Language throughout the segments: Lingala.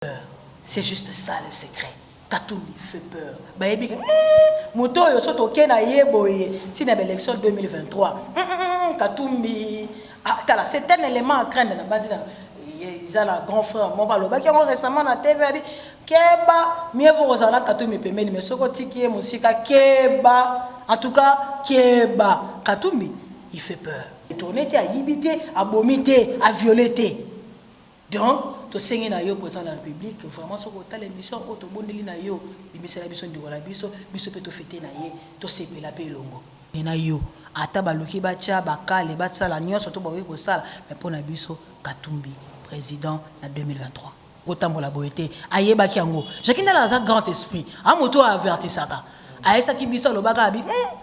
peur c'est juste ça le secret katumbi fait peur bayebi ke hum moto oyo soki toke na ye boye ti na ba election 2023 katumbi ah, tala c'est un élément à craindre na banzi na eza na grand frère moko alobaki yango récemment na tv abi keba mieux vaut kozala na katumbi pembeni mais soki otiki ye mosika keba en tout cas keba katumbi il fait peur tourne te ayibi te abomi te aviole te Donc tosengi na yo president de la republique vraiment soki otali emission oyo tobondeli na yo bimisela biso ndeko na biso biso pe to feter na ye tosepela pe elongo na yo ata baluki batia ba kale basala nionso to bakoki kosala mais po na biso katumbi president na 2023. Kotambola boye te ayebaki yango Jackie ndala aza grand esprit a moto oyo avertisaka ayesaki biso alobaka abi hum.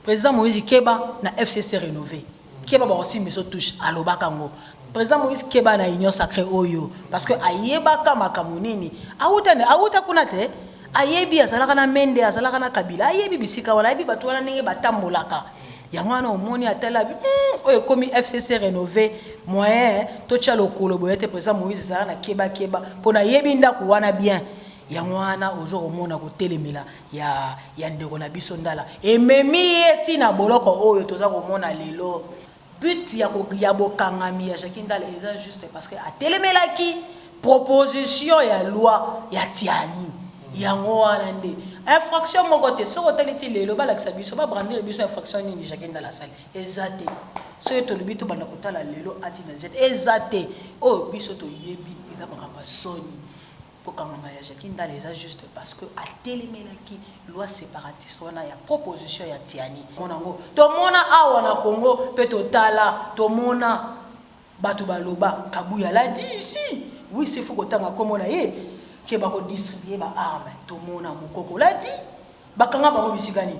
President Moïse keba na FCC renove keba bako simba biso touche alobaka ngo President Moïse keba na union sacree oyo parce que ayebaka makambo nini awuta nde awuta kuna te ayebi azalaka na mende azalaka na kabila ayebi bisika wana ayebi bato wana ndenge batambolaka yango wana omoni atali abi hmm, oyo ekomi fcc renove moyen totya lokolo boye te président moïse ezala na kebakeba mpo nayebi ndako wana bien yango wana oza komona kotelemela ya ya ndeko na biso ndala ememi ye ti na boloko oyo toza komona lelo but ya ko ya bokangami ya Jackie ndala eza juste parce que atelemelaki proposition ya loi ya tiani yango wana nde infraction moko te soki otali ti lelo balakisa biso ba brandir biso infraction nini Jackie ndala asali eza te soki tolobi tobanda kotala lelo atina zete eza te oyo biso toyebi eza makambo ya soni Kokangama ya Jacky Ndala eza juste parce que atelemelaki loi separatiste wana ya proposition ya Tiani. Tomona yango, tomona awa na Congo mpe totala, tomona batu baloba, Kabuya l'a dit ici, oui s'il faut kotanga kombo na ye, que bako distribuer ba armes, tomona, Mukoko l'a dit, bakanga bango bisika nini?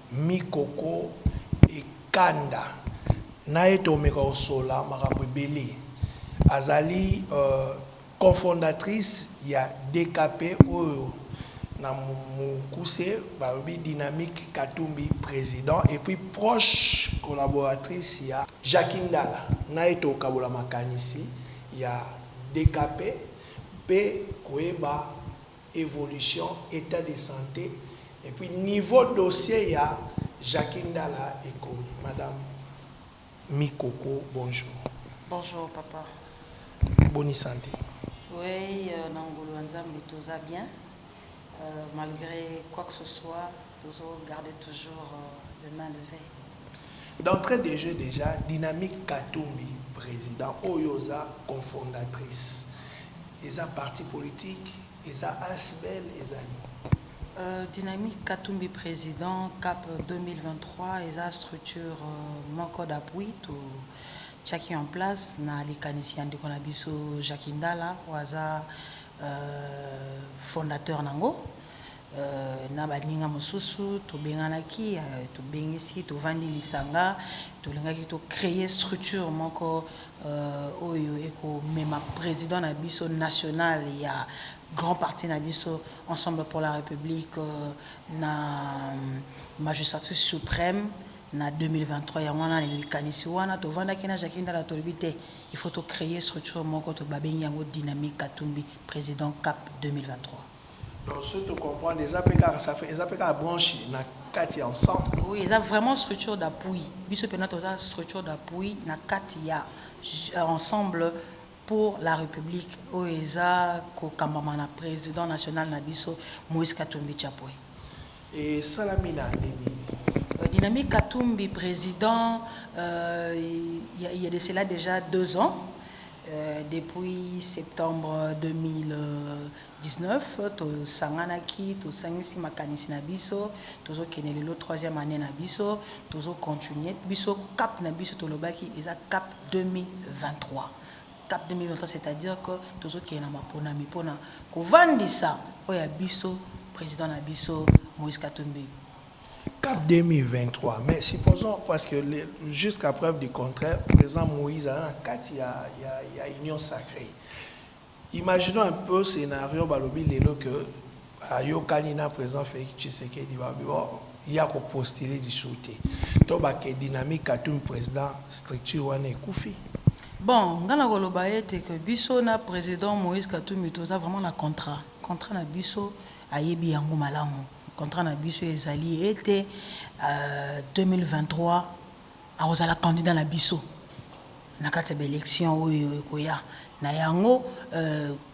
Mikoko e kanda na ye to meka ko solola makambo ebele. A zali cofondatrice ya DKP oyo na mokuse ba lobi Dynamique Katumbi President et puis proche collaboratrice ya Jackie Ndala. Na ye to kabola makanisi ya DKP mpe ko yeba. evolution, etat de sante et puis niveau dossier ya Jacquie Ndala ekomi. Madame Mikoko bonjour. Bonjour papa. Boni sante? Oui na ngolu ya Nzambe toza bien malgre quoi que ce soit. Tozo garder toujours le main leve. D'entree de jeux dejà dynamique katumbi president oyo yo oza confondatrice eza parti politique eza asbl eza nini? Dynamique katumbi president cap 2023 eza structure moko d'appui to tiaki en place na likanisi ya ndeko na biso Jacky Ndala oyo aza fondateur nango na baninga mosusu tobenganaki tobengisi tovandi lisanga tolingaki to cree structure moko oyo ekomema president na biso national ya grand parti na biso ensemble pour la republique na magistrature supreme na 2023 yango wana na likanisi wana tovandaki na Jackie Ndala tolobi te il faut to cree structure moko babengi yango dynamique katumbi president cap 2023. Donc soki to comprendre eza pe kaka ça fait eza pe kaka branche na kati ya ensemble. Oui eza vraiment structure d'appui biso pena toza structure d'appui na kati ya ensemble pour la republique oyo eza ko kambama na president national na biso Moïse Katumbi Chapwe. Esalami na annee nini? Dynamique Katumbi president il ya de cela dejà deux ans depuis septembre 2000 19 tosanganaki tosangisi makanisi na biso tozo kende lelo troisième annee na biso tozo continuer biso cap na biso tolobaki eza cap 2023 cap 2023 c'est à dire que tozo kende na maponami pona kovandisa oyo ya biso president na biso Moïse Katumbi. Cap 2023 mais supposons parce que jusqu'à preuve du contraire president Moïse aza na kati ya union sacree. Imaginons un peu scenario balobi lelo que ayokani na president Felix Tshisekedi balobi bon ye ako postuler lisusu te to ba que dynamique Katumbi president structure wana ekufi? Bon nga nakoloba ete que biso na president Moïse Katumbi toza vraiment na contrat, contrat na biso ayebi yango malamu contrat na biso ezali ete 2023 Akozala candidat na biso na kati ya ba elections oyo ekoya. Na yango,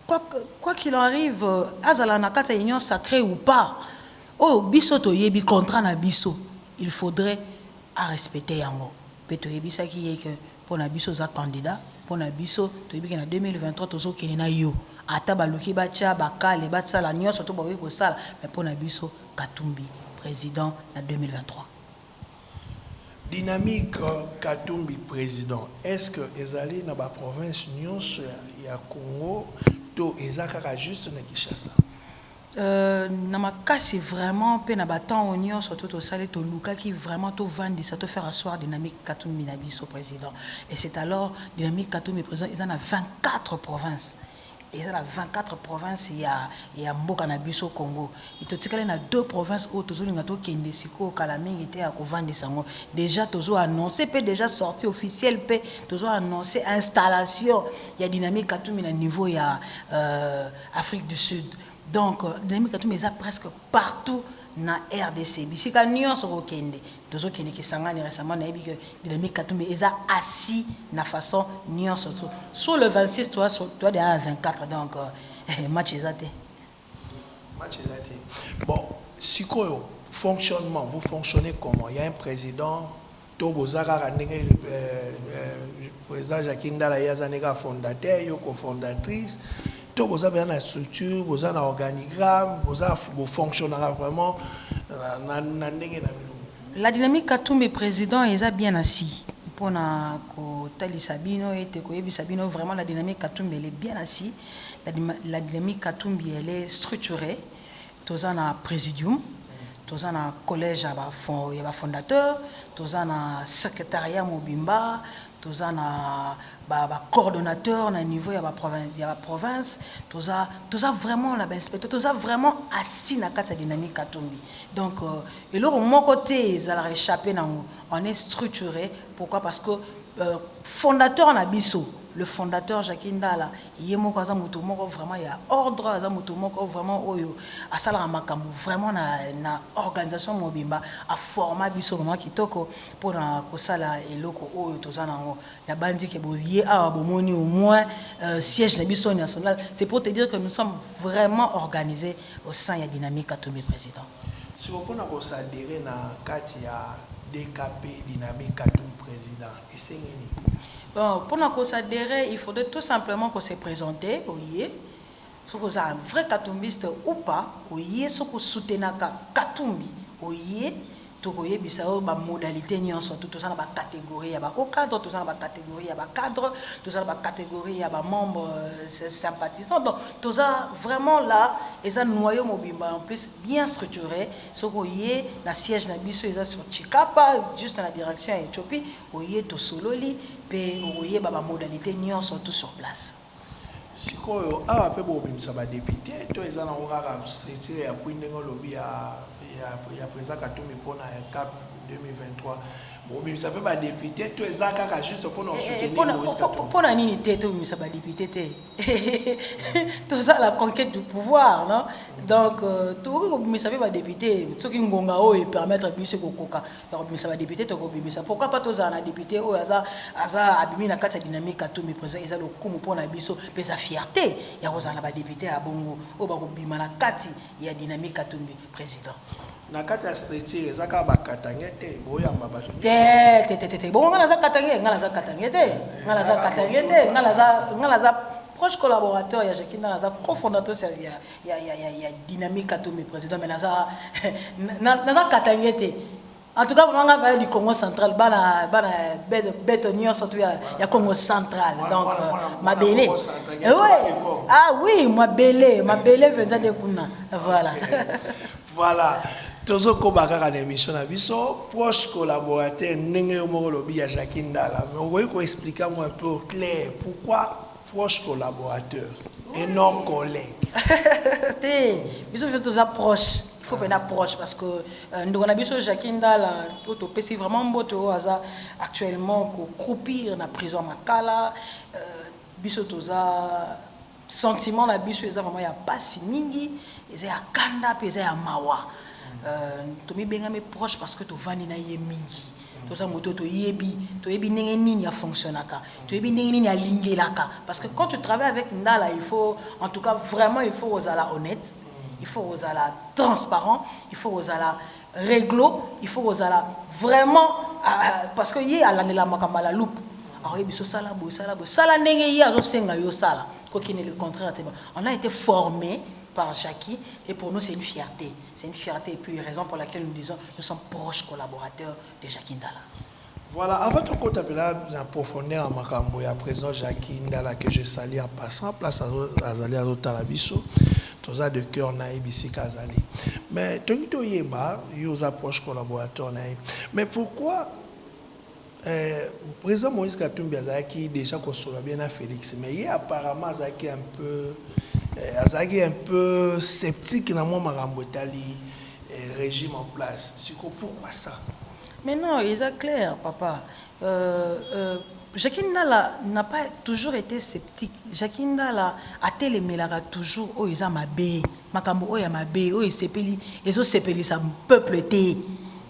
quoi qu'il en arrive, azala na kati ya Union sacree ou pas, oyo biso toyebi, contrat na biso, il faudrait a respecter yango. Mpe toyebisaki ye que mpo na biso oza candidat, mpo na biso toyebi que na 2023 tozokende na yo, ata baluki batia ba kale, basala nionso oyo bakoki kosala, mais mpo na biso Katumbi President na 2023. Dynamique Katumbi president est-ce que ezali na ba provinces nionso ya Congo to eza kaka juste na Kinshasa? Euh na makasi vraiment pe na ba temps oyo nionso to tosali tolukaki vraiment to vandisa to faire asseoir Dynamique Katumbi na biso president et c'est alors Dynamique Katumbi president eza na 24 provinces Eza na 24 provinces ya ya mboka na biso Congo et totikali na deux provinces oyo tozolinga tokende sikoyo kala mingi te ya kovandisa yango dejà tozo annoncer pe dejà sortie officielle pe tozo annoncer installation ya Dynamique Katumbi na niveau ya euh, Afrique du Sud donc Dynamique Katumbi eza presque partout na rdc bisika nionso okokende Tozo kende Kisangani recemment nayebi que Bellamy Katumbi eza assis na façon nionso tout sur le 26 toi toi deja na 24 donc match eza te. Match eza te bon sikoyo fonctionnement vous fonctionnez comment ya un president to boza kaka ndenge. President Jacquie Ndala ye aza nde kaka fondateur, yo cofondatrice, to boza penza na structure, boza na organigramme, boza bo fonctionnaka vraiment na ndenge na bino? La dynamique Katumbi president eza bien assis pona ko talisa bino ete ko yebisa bino vraiment la dynamique Katumbi elle est bien assis, la dynamique Katumbi elle est structuree Toza na Presidium, toza na Collège ya ba ya ba fondateurs, toza na Secretariat mobimba, toza na ba ba coordonnateurs na niveau ya ba ya ba provinces, toza toza vraiment na ba inspecteurs, toza vraiment assis na kati ya dynamique Katumbi. Donc eloko moko te ezalaka echapper n'ango, on est structure pourquoi parce que fondateur na biso le fondateur Jacquie Ndala Ye moko aza moto moko vraiment ya ordre, aza moto moko vraiment oyo asalaka makambo vraiment na na organisation mobimba, a forma biso vraiment kitoko pona kosala eloko oyo toza na yango. Na banzi ke boye awa bomoni au moins siège na biso national, c'est pour te dire que nous sommes vraiment organise au sein ya Dynamique Katumbi President. Sikoyo pona ko s'adherer na kati ya DKP, Dynamique Katumbi President, esengi nini? Donc pona ko s'adherer il faudrait tout simplement ko se presenter oye soki oza un vrai katumbiste ou pas oye soki o soutenaka katumbi oye toko yebisa yo ba modalites nionso tout toza na ba categories ya ba hauts cadres toza na ba categories ya ba cadres toza na ba categories ya ba membres sympathisants donc toza vraiment là eza noyau mobimba en plus bien structure Soki oye na siège na biso eza sur Tshikapa juste na direction ya Ethiopie oye tosololi pe okoyeba ba modalites nionso tout sur place. Sikoyo awa pe bokobimisa ba depute to eza nango kaka structure ya appuie ndenge olobi ya ya president katumbi pona cap 2023 bokobimisa pe ba depute to eza kaka juste pona ko soutenir moise katumbi? Pona nini te tobimisa ba depute te? toza la conquête du pouvoir non donc euh, tokoki kobimisa mpe badepute soki ngonga oyo epermettre biso kokoka ya kobimisa badepute tokobimisa pourquoi pas tozala na depute oyo aza, aza abimi na kati ya dynamique katumbi président eza lokumu mpo na biso mpe eza fierté ya kozala na badepute ya bongo oyo bakobima na kati ya dynamique katumbi président Na kati ya structure eza kaka ba katangais te boyamba batu nionso te te te te te bongo nga naza katangais nga naza katangais te nga naza katangais te nga naza nga naza proche collaborateur ya Jackie Ndala naza cofondatrice ya ya ya ya ya dynamique Katumbi président mais naza naza katangais te en tout cas vraiment nga baye du Congo central bana bana beto nionso tu ya ya Congo central donc mabele oui ah oui mabele mabele penza de kuna voilà Voilà tozo koba kaka na emission na biso proche collaborateur ndenge yo moko olobi ya Jackie Ndala mais okoki ko explique yango un peu au clair pourquoi proche collaborateur et non collègue te biso mpe toza proche il faut pena proche parce que euh, ndeko na biso Jackie Ndala oyo topesi vraiment mbote oyo aza actuellement ko croupir na prison makala euh, biso toza Sentiment na biso eza vraiment ya pasi mingi, eza ya kanda pe eza ya mawa. Euh, tomibengami proche parce que tovandi na ye mingi. Toza moto toyebi, toyebi ndenge nini a fonctionnaka, toyebi ndenge nini alingelaka parce que quand tu travailles avec Ndala, il faut en tout cas vraiment il faut kozala honnête, il faut kozala transparent, il faut kozala Reglo il faut kozala vraiment parce que ye alandelamaka mbala à loupe akoyebi biso sala boye sala boye sala ndenge ye azo senga yo sala ko kende le contraire te on a été formé par Jackie et pour nous c'est une fierté c'est une fierté et puis raison pour laquelle nous disons nous sommes proches collaborateurs de Jackie Ndala Voilà, avant tokota pena na profondeur ya makambo ya president Jacky Ndala que je salue en passant place azo azali azo tala biso toza de cœur na ye bisika azali mais tolingi toyeba yo oza proche collaborateur na ye mais pourquoi euh, president Moïse Katumbi azalaki déjà kosolola bien na Felix mais ye apparemment azalaki un peu euh, azalaki un peu sceptique na mwa makambo etali euh, régime en place siko pourquoi ça Mais non eza claire papa euh, euh, Jackie Ndala n'a pas toujours été sceptique Jackie Ndala atelemelaka toujours oyo eza mabe makambo oyo ya mabe oyo esepeli ezosepelisa peuple te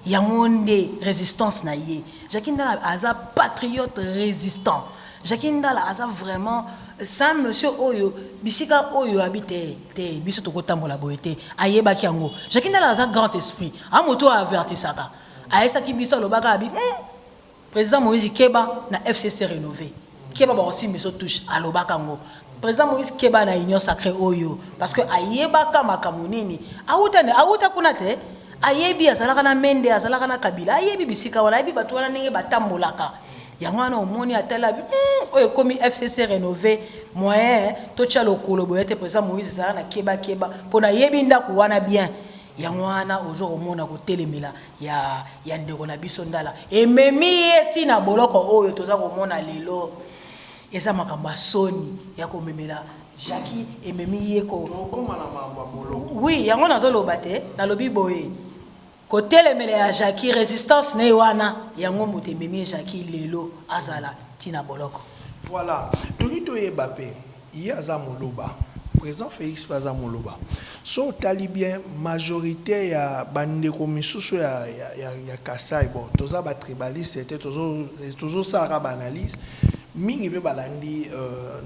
yango nde résistance na ye Jackie Ndala aza patriote résistant Jackie Ndala aza vraiment sa monsieur oyo bisika oyo abi te te biso tokotambola boye te ayebaki yango Jackie Ndala aza grand esprit A moto a avertisaka, ayesaki biso alobaka abi hum president Moïse keba na FCC renove keba bako simba biso touche alobaka ngo president Moïse keba na union sacree oyo parce que ayebaka makambo nini awuta ne awuta kuna te ayebi azalaka na mende azalaka na kabila ayebi bisika wana ayebi bato wana ndenge batambolaka yango wana omoni atala abi hum oyo ekomi FCC renove moyen totya lokolo boye te president Moïse ezala na keba keba mpo nayebi ndako wana bien Yango wana ozo komona kotelemela ya ya ndeko na biso ndala ememi ye ti na boloko oyo toza komona lelo eza makambo ya soni ya komemela Jacqui ememi ye ko tokoma na mambo ya boloko oui yango nazo loba te nalobi boye kotelemela ya Jacqui resistance ne wana yango moto ememi Jacqui lelo azala ti na boloko. Voilà tolingi toyeba pe. Ye aza muluba president Felix pe aza muluba soki otali bien majorite ya ba ndeko misusu ya kasai bon toza ba tribaliste te tozo sala kaka ba analyse mingi pe balandi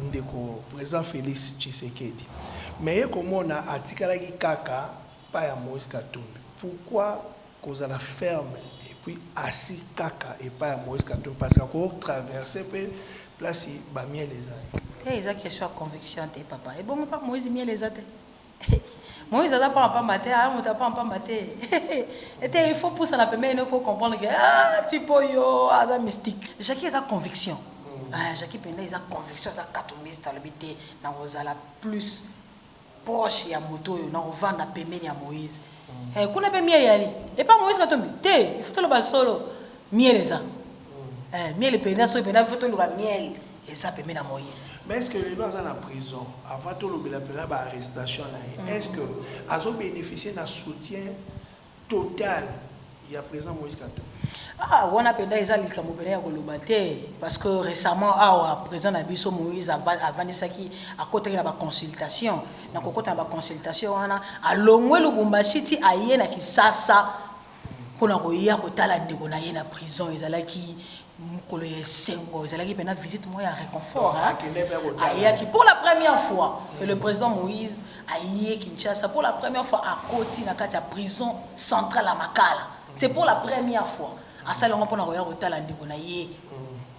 ndeko president Felix tshisekedi mais ye komona atikalaki kaka epayi ya moise katumbi pourquoi Kozala ferme et puis assis kaka epai ya Moise Katumbi parce que ako traverser pe place ba miel ezali. Te eza question ya conviction te papa ebongo pa Moise miel eza te Moise aza pamba pamba te aza moto ya pamba pamba te ete il faut pusana pembeni no po comprendre que ah type oyo aza mystique Jackie eza conviction ah Jackie penda eza conviction aza katumbiste alobi te nakozala plus proche ya moto oyo nako vanda pembeni ya moise eh kuna pe miel eyali epa moise katumbi te il faut toloba solo miel eza eh miel penda soki penda il faut toluka miel eza pembeni ya moise mais est ce que lelo aza na prison avant tolobela pena ba arrestation na ye est ce que azo beneficier na soutien total ya president Moïse Katumbi. Ah wana penda eza likambo penda ya koloba te parce que recemment awa president na biso Moïse avandisaki akotaki na ba consultation na kokota na ba consultation wana alongwe Lubumbashi ti aye na Kisasa pona koya kotala ndeko na ye na prison ezalaki Mokolo ya esengo, ezalaki mpenza visite moko ya reconfort hein. Akendeki mpe ya kotala. Ayaki pour la première fois que le President Moïse aye Kinshasa, pour la première fois akoti na kati ya prison centrale ya Makala. C'est pour la première fois. Asali yango mpo na koya kotala ndeko na ye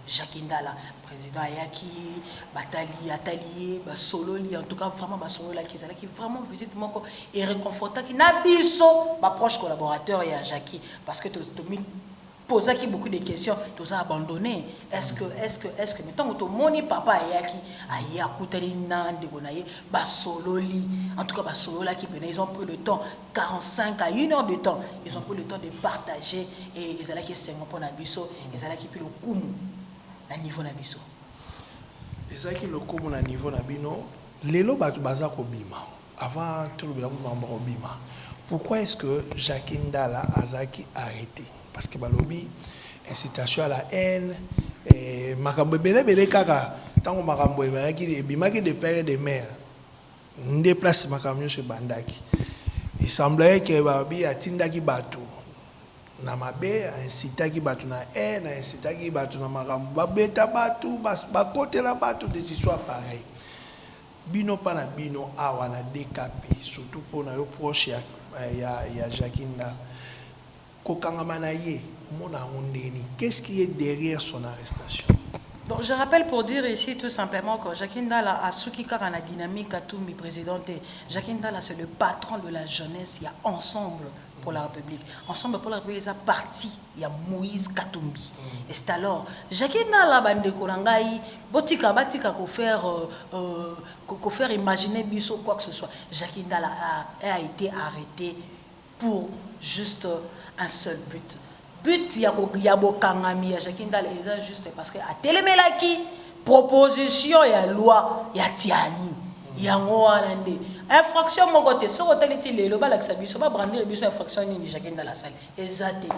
Jacques Ndala. President ayaki, batali, atali ye, basololi, en tout cas vraiment basololaki. Ezalaki vraiment visite moko e reconfortaki na biso ba proches collaborateurs ya Jackie parce que to, tomi, pozaki beaucoup de questions toza abandonne est ce que est ce que est ce que mais ntango tomoni papa ayaki aye akutani na ndeko na ye basololi en tout cas basololaki mpena ils ont pris le temps 45 à une heure de temps ils ont pris le temps de partager et ezalaki esengo mpo na biso ezalaki mpe lokumu na niveau na biso ezalaki lokumu na niveau na bino lelo bato baza kobima Avant toloba eloko moko moko bima pourquoi est ce que Jacquie Ndala azalaki arrete parce que balobi incitation à la haine makambo ebele ebele kaka tango makambo ebimaki ebimaki de père et de mère nde place makambo nionso ebandaki il semblerait que balobi atindaki batu na mabe a incitaki batu na haine a incitaki batu na makambo babeta batu bakotela batu des histoires pareilles Bino pa na bino awa na DKP surtout po nayo proche ya ya Jacquie Ndala kokangama na ye omona yango ndenge nini? Qu'est ce qui est derrière son arrestation? Donc je rappelle pour dire ici tout simplement que Jacquie Ndala asuki kaka na dynamique Katumbi president te. Jacquie Ndala c'est le patron de la jeunesse ya ensemble pour la republique. Ensemble pour la republique eza parti. ya moise katumbi estalor jacki nala ba ndeko na ngai botika batika ko faire ko faire imagine biso quoi que ce soit jacki ndala a ete arrete pour juste un seul but but ya ko ya bokangami ya jacki ndala eza juste parce que atelemelaki proposition ya loi ya tiani yango wana nde infraction moko te soki otali ti lelo balakisa biso ba brandir biso infraction nini jacki ndala asali Eza te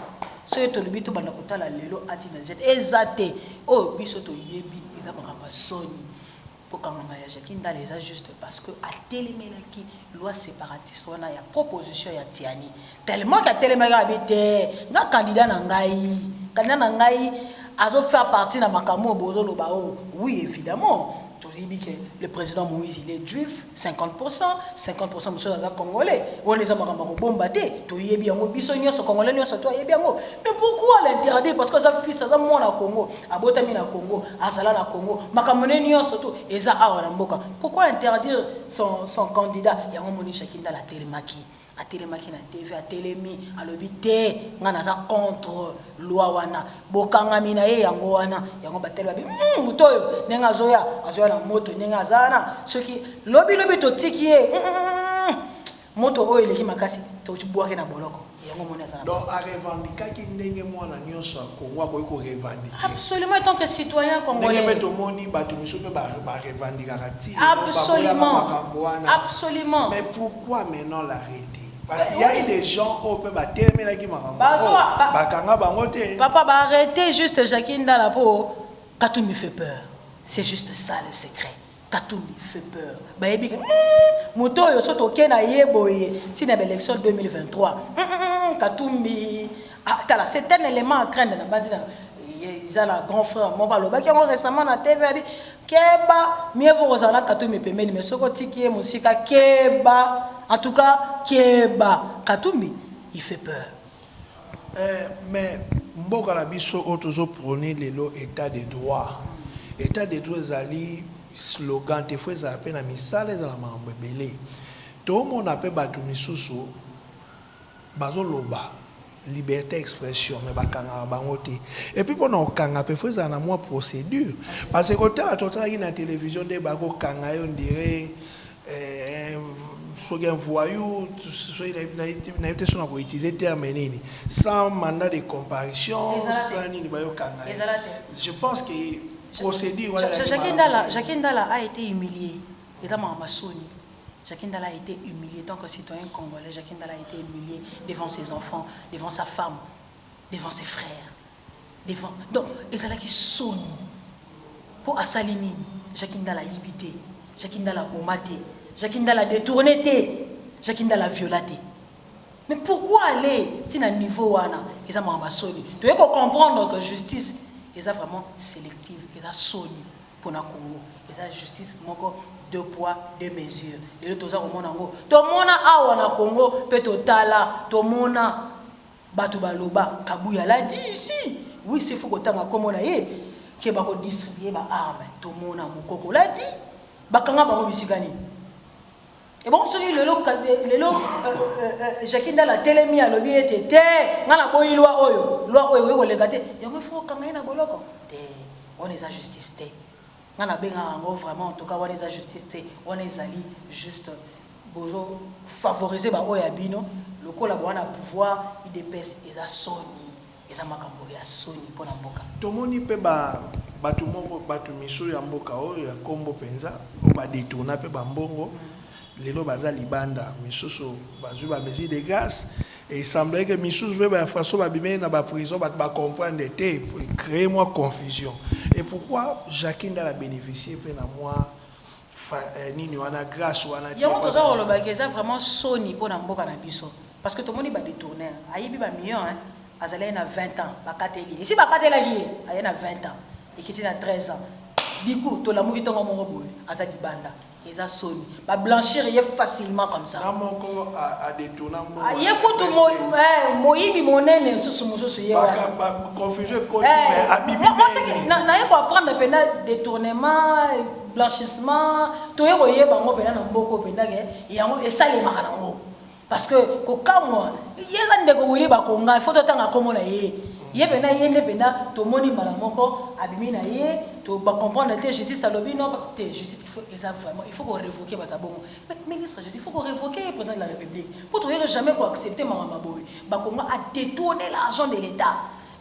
soki tolobi tobanda kotala lelo a ti na z eza te oyo biso toyebi eza makambo ya soni kokangama ya Jacquie Ndala eza juste parce que atelemelaki loi separatiste wana ya proposition ya Tiani tellement que atelemaki abi te nga candidat na ngai candidat na ngai azo faire partie na makambo oyo bozoloba oyo oui evidemment Toyebi que le president Moïse il est juif 50%, 50% mosusu aza congolais. Wana eza makambo ya kobomba te. Toyebi yango biso nyonso congolais nyonso to ayebi yango. Mais pourquoi l'interdire parce que aza fils aza mwana Congo, abotami na Congo, azala na Congo. Makambo ne nyonso to eza awa na mboka. Pourquoi interdire son son candidat? Yango moni Jacques Ndala atelemaki. Atelemaki na TV. Atelemi, alobi, Te, ngai naza contre loi wana. Bokangami na ye, yango wana. Yango batali babi, Hum, moto oyo, ndenge azoya, azoya na moto, ndenge aza wana, soki lobi, lobi totiki ye. Hum, moto oyo eleki makasi, tobwaka ye na boloko. Yango omoni aza na boloko. Donc, a revendiquaki ndenge mwana nionso ya Congo akoki ko revendiquer. Absolument, etant que citoyen congolais. Ndenge mpe tomoni bato misusu mpe ba revendiquaka tii lelo, baboyaka makambo wana. Absolument. Absolument. Mais pourquoi? Pourquoi amenant l'arrete? Parce qu'il y a eu des gens oyo pe ba telemelaki makambo Bazo- oyo, ba- ba kanga bango te. Papa, bah arrêtez juste Jackie Ndala po Katoumi fait peur. C'est juste ça le secret. Katoumi fait peur. Bah ebi moto oyo soto oke na ye boye tina ba élection 2023. Hum, hum, hum, Katumbi ah, tala c'est un élément à craindre na banzi na ye- eza na grand frère moko alobaki yango récemment na TV abi Keba mieux vaut kozala na katumbi pembeni mais soki otiki ye mosika keba en tout cas keba katumbi il fait peur. Eeh mais mboka na biso oyo tozo proner lelo etat de droit, etat de droit ezali slogan te faut ezala pe na misala ezala makambo ebele tomona pe batu misusu, Bazo loba liberte ya expression mais bakangaka bango te et puis pona kokanga pe faut ezala na mua procedure parce que kotala totalaki na television nde bako kanga ye on dirait soki un voyou soki nayebi te soki nako utiliser terme nini sans mandat de comparution sans nini bayo kanga ye je pense que procedure wana ezalaki malamu te. Eza makambo ya soni Jacquie Ndala a ete humilie tant que citoyen congolais Jacquie Ndala a ete humilie devant ses enfants devant sa femme devant ses frères devant donc ezalaki soni po asali nini Jacquie Ndala ayibi te Jacquie Ndala aboma te Jacquie Ndala a detourne te Jacquie Ndala a viola te mais pourquoi aller ti na niveau wana eza makambo ya soni toye ko comprendre que justice eza vraiment selective eza soni. pona congo eza justice moko deux poids deux mesures lelo toza komona yango tomona awa na congo pe totala tomona batu baloba kabuya la dit ici oui sifu kotanga kombo na ye ke bako distribuer ba armes tomona mukoko la dit bakanga bango bisika nini Ebongo soki lelo lelo Jackie Ndala atelemi alobi ete te nga na boyi loi oyo loi oyo ekoki koleka te yango il faut okanga ye na boloko te wana eza justice te nga na benga yango vraiment en tout cas wana eza justice te wana ezali juste bozo favoriser ba oyo ya bino lokola bowana pouvoir udps eza soni. Eza makambo ya soni pona mboka. Tomoni pe ba batu moko batu misu ya mboka oyo ya kombo penza oyo ba detourna pe ba mbongo lelo baza libanda misusu bazui ba mesure de grace et il semblerait que misusu pe ba infractions ba bimeli na ba prison batu ba comprendre te e cree mua confusion et pourquoi Jacquie ndala beneficier pe na mua nini wana grace wana te. Yango toza koloba que eza vraiment soni pona mboka na biso. Parce que tomoni ba detourneur ayibi ba millions hein azalaki na 20 ans bakateli ye esi bakatelaki ye aye na 20 ans ekiti na 13 ans du coup tolamuki tongo moko boye aza libanda eza soni ba blanchir ye facilement comme ça na moko a detourna mbongo ah, ye kutu mo, eh, moyibi monene susu mususu ye wana ba confusion ekoti eh, mais abibi moi c'est que na, na ye ko apprendre pena détournement blanchissement toye ko yeba ngo pena na mboko pena ke yango esalemaka na ngo Parce que kokamwa ye eza ndeko Willy Bakonga il faut totanga kombo na ye ye pena ye nde pena tomoni mbala moko abimi na ye to ba comprendre te justice alobi non te justice il faut eza vraiment il faut ko revoquer bata bongo mais ministre justice il faut ko revoquer ye president de la republique po toyeke jamais ko accepter makambo ma boye Bakonga a detourner l'argent de l'etat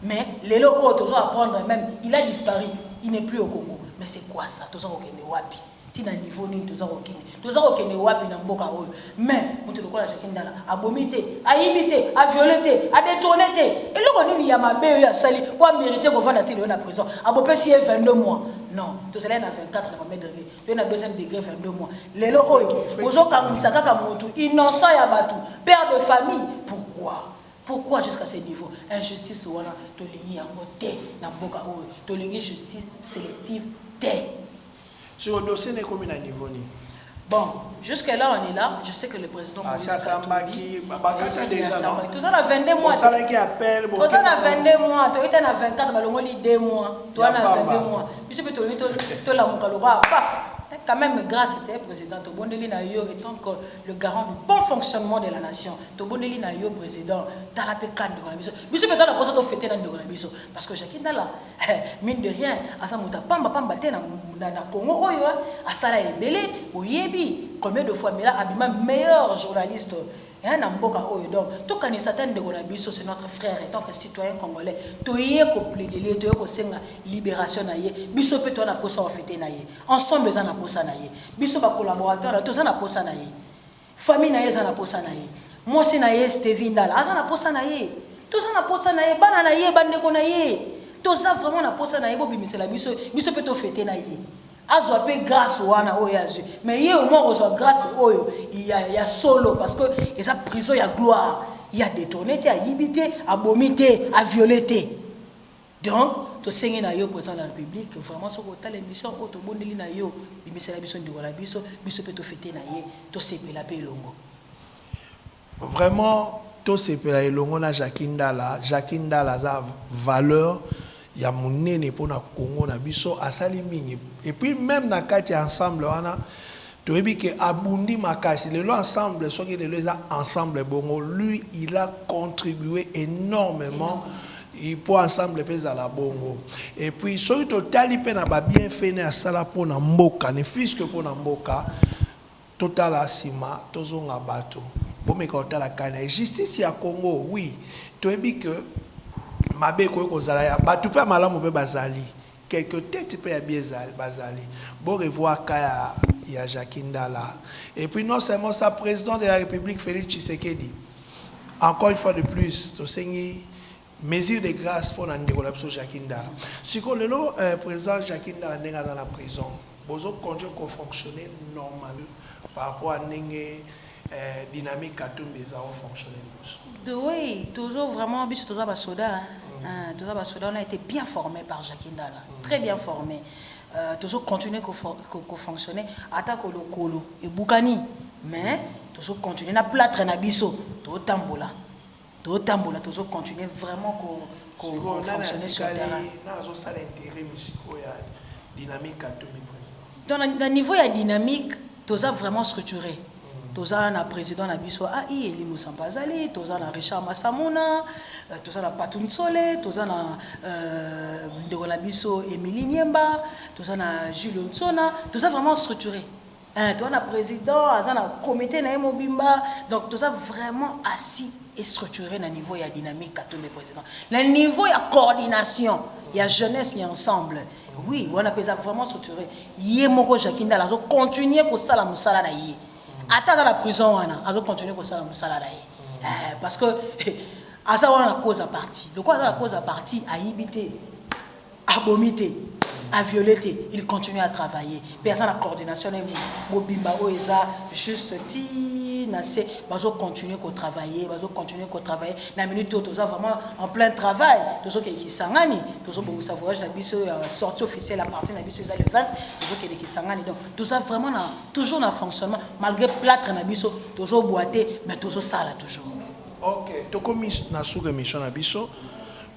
mais lelo oyo tozo apprendre meme il a disparu il n'est plus au Congo mais c'est quoi ça toza kokende wapi Ti na niveau nini toza kokende? Toza kokende wapi na mboka oyo? Mais mutu lokola Jacquie Ndala abomi te, ayibi te, a violer te, a detourner te. Eloko nini ya mabe oyo asali po a meriter kovanda ti lelo na prison? A bopesi ye 22 mois? Non, tozalaki na 24 na premier degre, toye na deuxième degre 22 mois. Lelo oyo bozo kangisa kaka mutu innocent ya batu, père de famille. Pourquoi? Pourquoi jusqu'à ce niveau? Injustice wana tolingi yango te na mboka oyo. Tolingi justice selective te. Sikoyo dossier naye ekomi na niveau nini? Bon jusque là on est là je sais que le president Moise Katumbi asi asambaki bakata dejà non toza na 22 mois osalaki appel bo toza na 22 mois toyi ta na 24 balongoli 2 mois toza na 22 mois biso pe tolingi tolamuka lokola paf eh, quand même grâce te président tobondeli na yo étant que le garant du bon fonctionnement de la nation tobondeli na yo président tala pe ka ndeko na biso biso pe toza na posa tofete na ndeko na biso parce que jacques ndala Ehh mine de rien aza moto ya pamba pamba te na na Congo oyo hein asala ebele boyebi combien de fois Mela abima meilleur journaliste hein na mboka oyo donc tokanisa ata ndeko na biso c'est notre frère etant que citoyen congolais toye ko plaider ye toye kosenga liberation na ye biso pe toza na posa ofete na ye ensemble eza na posa na ye biso ba collaborateurs na ye toza na posa na ye Famille naye eza na posa naye. Mwasi naye Stevie Ndala aza na posa naye. Toza na posa naye. Bana naye, ba ndeko naye. Toza vraiment na posa naye. Bo bimisela biso. Biso pe to feter naye. Azwa pe grace wana oyo ye azwi. Mais ye au moins akozwa grace oyo ya ya solo parce que eza prison ya gloire. Ye a detourner te, ayibi te, abomi te, a violer te. Donc tosengi na yo president de la republique vraiment soki otali emission oyo tobondeli na yo bimisela biso ndeko na biso biso pe to feter na ye tosepela pe elongo. Vraiment tosepela elongo na Jacky Ndala, Jacky Ndala aza valeur ya munene pona Congo na biso asali mingi et puis meme na kati ya ensemble wana toyebi que abundi makasi lelo ensemble soki lelo eza ensemble bongo lui il a contribue enormement Il po ensemble pe ezala bongo et puis soki totali pe na ba bien fait ne asala po na mboka ne fils que po na mboka totala sima tozonga batu bomeka kotala kania justice ya congo oui toyebi que mabe ekoki kozala ya batu pe ya malamu pe bazali Quelques tetes pe ya bien ezali bazali bo revoir cas ya ya Jacquie ndala et puis non seulement ça president de la republique Felix Tshisekedi encore une fois de plus tosengi mesure de grace pona ndeko na biso Jacquie ndala sikoyo lelo president Jacquie ndala ndenge aza na prison Bozo continue ko fonctionner normal par rapport ya ndenge dynamique katumbi eza o fonctionner liboso. The way tozo vraiment biso toza ba soda hein toza ba soda on a ete bien forme par Jacky Ndala très bien forme tozo continue ko fonctionner ata ko lokolo ebukani mais tozo continue na platre na biso tozo tambola. Tozo tambola tozo continuer vraiment ko ko fonctionner sur terrain. Sikoyo nani atikali na azo sala interim sikoyo ya dynamique katumbi president? Donc na niveau ya dynamique toza vraiment structure toza na president na biso a i Elie Musamba azali toza na Richard Masamuna toza na Patou Nsole toza na ndeko na biso Emilie Niemba toza na Jules Nsona toza vraiment structure. Eeh toza na president aza na comite naye mobimba donc toza vraiment assi et structure na niveau ya dynamique katumbi president na niveau ya coordination ya jeunesse ya ensemble oui wana pe eza vraiment structure ye moko Jackie Ndala azo continuer kosala mosala na ye ata aza na prison wana azo continuer kosala mosala na ye eh, parce que aza wana na cause ya parti lokola aza na cause ya parti ayibi te Abomi te, a violer te, il continue à travailler pe aza na coordination na ye mobimba oyo eza juste ti na se bazo continuer ko travailler, bazo continuer ko travailler na minute oyo toza vraiment en plein travail tozo kende Kisangani tozo bongisa voyage na biso ya sortie officielle à partir na biso eza le 20 tozo kende Kisangani donc toza vraiment na toujours na fonctionnement malgré plâtre na biso tozo bua te mais tozo sala toujours. Ok tokomi na suka emission na biso.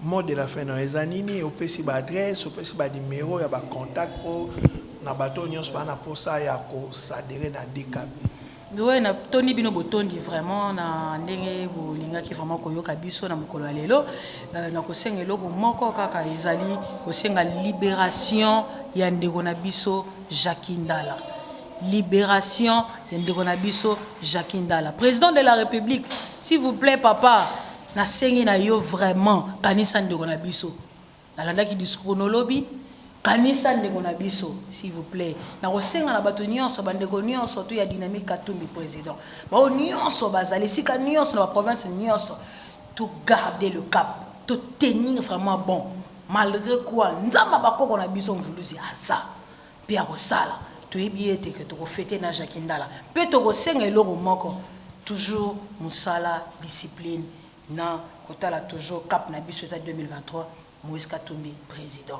Mot de la fin nayo eza nini? Opesi ba adresse, opesi ba numero ya ba contact po na batu oyo nionso baza na posa ya ko s'aderer na DKB. Zoe na tondi bino botondi vraiment na ndenge bolingaki vraiment koyoka biso na mokolo ya lelo euh, na kosenga eloko moko kaka ezali kosenga liberation ya ndeko na biso Jacques Ndala liberation ya ndeko na biso Jacques Ndala président de la république s'il vous plaît papa Na sengi na yo vraiment kanisa ndeko na biso na landaki discours no lobi kanisa ndeko na biso s'il vous plait na ko senga na batu nionso ba ndeko nionso tout ya dynamique katumbi president ba oyo nionso ba zali esika nionso na ba province nionso to garder le cap to tenir vraiment bon malgre quoi nzambe ya ba koko na biso mvuluzi aza Mpe akosala. Toyebi ye te que toko feter na Jackie Ndala. Mpe toko senga eloko moko, toujours musala, discipline, na kotala toujours cap na biso eza 2023, Moïse Katumbi President.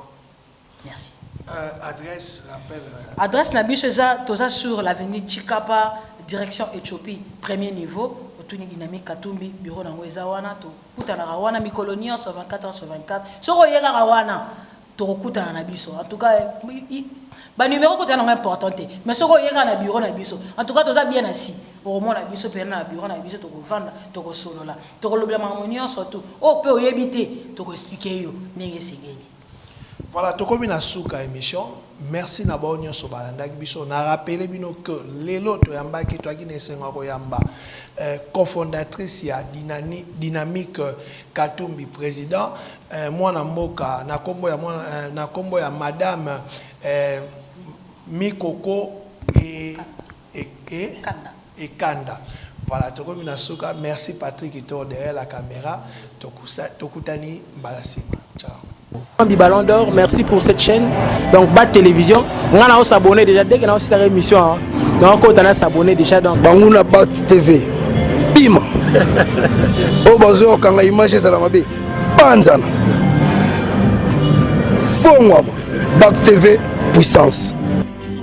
Merci. Euh adresse rappelle euh. Adresse na biso eza toza sur l'avenue Tshikapa direction Ethiopie premier niveau otuni Dynamique Katumbi bureau na ngo eza wana tokutanaka wana mikolo nionso 24 heures sur 24 soki oye kaka wana Toko kutana na biso en tout cas ba numero kotala nango important te mais soki oye kaka na bureau na biso en tout cas toza bien assis okomona biso pena na bureau na biso toko vanda toko solola toko lobela makambo nionso tout oyo pe oyebi te toko expliquer yo ndenge esengeli. Voilà tokomi na suka emission merci na ba oyo nionso balandaki biso na rappeler bino que lelo toyambaki toyaki na esengo ya koyamba cofondatrice ya dynamique katumbi president eh, mwana mboka na kombo ya mwana eh, na kombo ya madame eh, mikoko e, e, e, ekanda, ekanda. Voilà, tokomi na suka. Merci Patrick Toro derrière la caméra. Tokusa, tokutani mbala sima. Ciao. du Ballon d'Or, merci pour cette chaîne. Donc, Bat Télévision. On a s'abonner déjà. Dès que nous avons émission, hein. donc on a s'abonner déjà. Donc, Bangouna Bat TV. Bim! oh, bazo, quand l'image est à la mabé. panzana fongwama bac tv puissance